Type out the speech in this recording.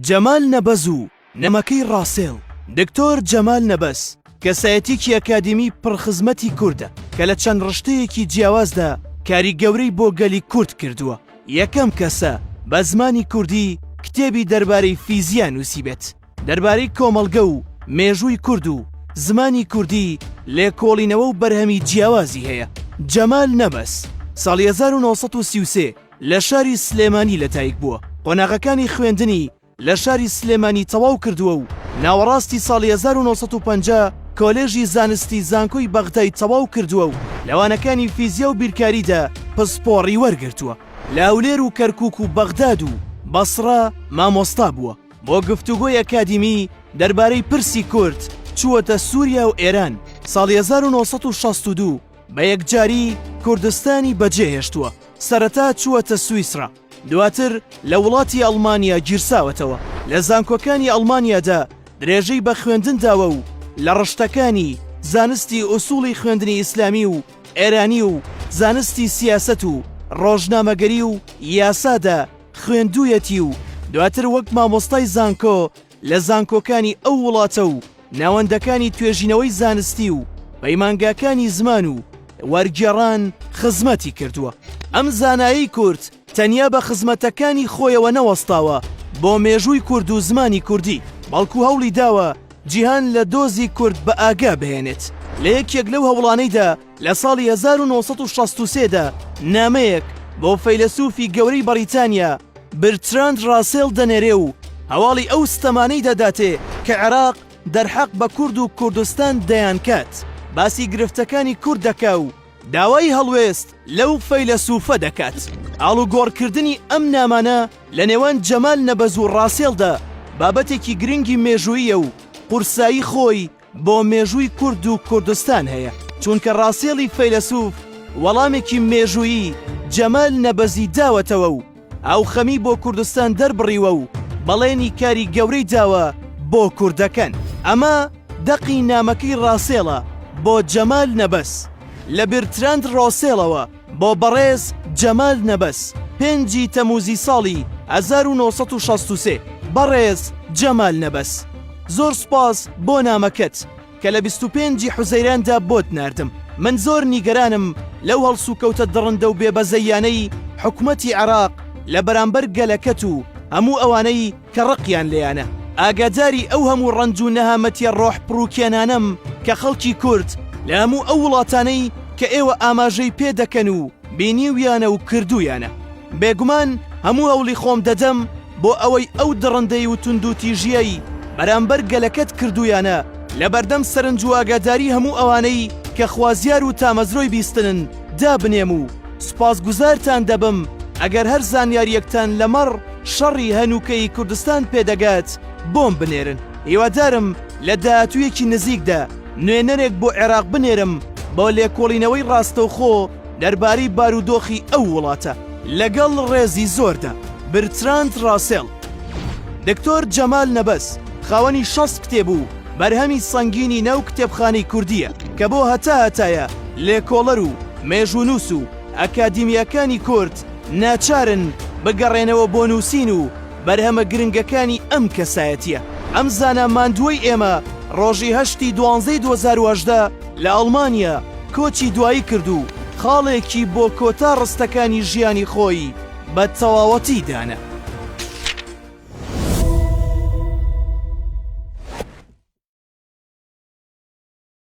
جەمال نەبەز و نەمەکەی ڕاسێڵ دکتۆر جەمال نەبەز کەسایەتیەکی ئەکادیمی پڕ خزمەتی کوردە کە لە چەند ڕشتەیەکی جیاوازدا کاری گەورەی بۆ گەلی کورد کردووە یەکەم کەسە بە زمانی کوردی کتێبی دەربارەی فیزیا نووسیبێت دەربارەی کۆمەڵگە و مێژووی کورد و زمانی کوردی لێکۆڵینەوە و بەرهەمی جیاوازی هەیە جەمال نەبەز ساڵی هەزار و نۆ سەد و سی و سێ لە شاری سلێمانی لەدایکبووە، قۆناغەکانی خوێندنی لە شاری سلێمانی تەواو کردووە و ناوەڕاستی ساڵی هەزار و نۆ سەد و پەنجا کۆلێژی زانستی زانکۆی بەغدای تەواو کردووە و لە وانەکانی فیزیا و بیرکاریدا پسپۆڕی وەرگرتووە. لە هەولێر و کەرکووک و بەغداد و بەسڕە مامۆستا بووە. بۆ گفتوگۆی ئەکادیمی دەربارەی پرسی کورد چووەتە سووریا و ئێران ساڵی هەزار و نۆ سەد و شەست و دوو. بە یەکجاری کوردستانی بەجێهێشتووە، سەرەتا چووەتە سویسڕا، دواتر لە وڵاتی ئەڵمانیا گیرساوەتەوە، لە زانکۆکانی ئەڵمانیادا درێژەی بە خوێندن داوە و لە ڕشتەکانی، زانستی ئوسوڵی خوێندنی ئیسلامی و ئێرانی و زانستی سیاسەت و ڕۆژنامەگەری و یاسادا خوێندوویەتی و دواتر وەک مامۆستای زانکۆ لە زانکۆکانی ئەو وڵاتە و ناوەندەکانی توێژینەوەی زانستی و پەیمانگاکانی زمان و وەرگێڕان خزمەتی کردووە. ئەم زانایەی کورد تەنیا بە خزمەتەکانی خۆیەوە نەوەستاوە بۆ مێژووی کورد و زمانی کوردی، بەڵکو هەوڵی داوە جیهان لە دۆزی کورد بەئاگا بهێنێت. لە یەکێک لەو هەوڵانەیدا، لە ساڵی هەزار و نۆ سەد و شەست و سێ دا نامەیەک بۆ فەیلەسووفی گەورەی بەڕیتانیا برتراند ڕاسێڵ دەنێرێ و هەواڵی ئەو ستەمانەی دەداتێ کە عێراق دەرحەق بە کورد و کوردستان دەیانکات، باسی گرفتەکانی کورد دەکا و داوای هەڵوێست لەو فەیلەسووفە دەکات. ئاڵوگۆڕکردنی ئەم نامانە لە نێوان جەمال نەبەز و ڕاسێڵدا بابەتێکی گرنگی مێژووییە و قورسایی خۆی بۆ مێژووی کورد و کوردستان هەیە چونکە ڕاسێڵی فەیلەسوف وەڵامێکی مێژوویی جەمال نەبەزی داوەتەوە و ئەو خەمی بۆ کوردستان دەربڕیوە و بەڵێنی کاری گەورەی داوە بۆ کوردەکەن ئەمە دەقی نامەکەی ڕاسێڵە بۆ جەمال نەبەز لە برتراند ڕۆسێڵەوە بۆ بەڕێز جەمال نەبەز پێنجی تەموزی ساڵی هەزار و نۆ سەد و شەست و سێ بەڕێز جەمال نەبەز زۆر سوپاس بۆ نامەکەت کە لە بیست و پێنجی حوزەیراندا بۆت ناردم من زۆر نیگەرانم لەو هەڵسوکەوتە دڕندە و بێبەزەییانەی حکومەتی عێراق لە بەرامبەر گەلەکەت و هەموو ئەوانەی کە ڕقیان لێیانە. ئاگاداری ئەو هەموو ڕەنج و نەهامەتیە ڕۆح پڕوکێنانەم کە خەڵکی کورد لە هەموو ئەو وڵاتانەی کە ئێوە ئاماژەی پێ دەکەن و بینیویانە و کردوویانە. بێگومان هەموو هەوڵی خۆم دەدەم بۆ ئەوەی ئەو دڕندەیی و توندوتیژیەی بەرامبەر گەلەکەت کردوویانە لە بەردەم سەرنج و ئاگاداری هەموو ئەوانەی کە خوازیار و تامەزرۆی بیستنن دابنێم و سوپاسگوزارتان دەبم ئەگەر هەر زانیاریەکتان لەمەڕ شەڕی هەنووکەی کوردستان پێدەگات بۆم بنێرن هیوادارم لە داهاتوویەکی نزیکدا نوێنەرێک بۆ عێراق بنێرم بۆ لێکۆڵینەوەی ڕاستەوخۆ دەربارەی بارودۆخی ئەو وڵاتە. لەگەڵ ڕێزی زۆردا. برتراند ڕاسێڵ. دکتۆر جەمال نەبەز خاوەنی شەست کتێب و بەرهەمی سەنگینی ناو کتێبخانەی کوردییە کە بۆ هەتا هەتایە لێکۆڵەر و مێژوونووس و ئەکادیمیاکانی کورد ناچارن بگەڕێنەوە بۆ نووسین و بەرهەمە گرنگەکانی ئەم کەسایەتیە. ئەم زانا ماندووەی ئێمە ڕۆژی هەشت ی دوانزەی دوو هەزار و هەژدە لە ئەڵمانیا کۆچی دوایی کرد و خاڵێکی بۆ کۆتا ڕستەکانی ژیانی خۆی بە تەواوەتی دانا.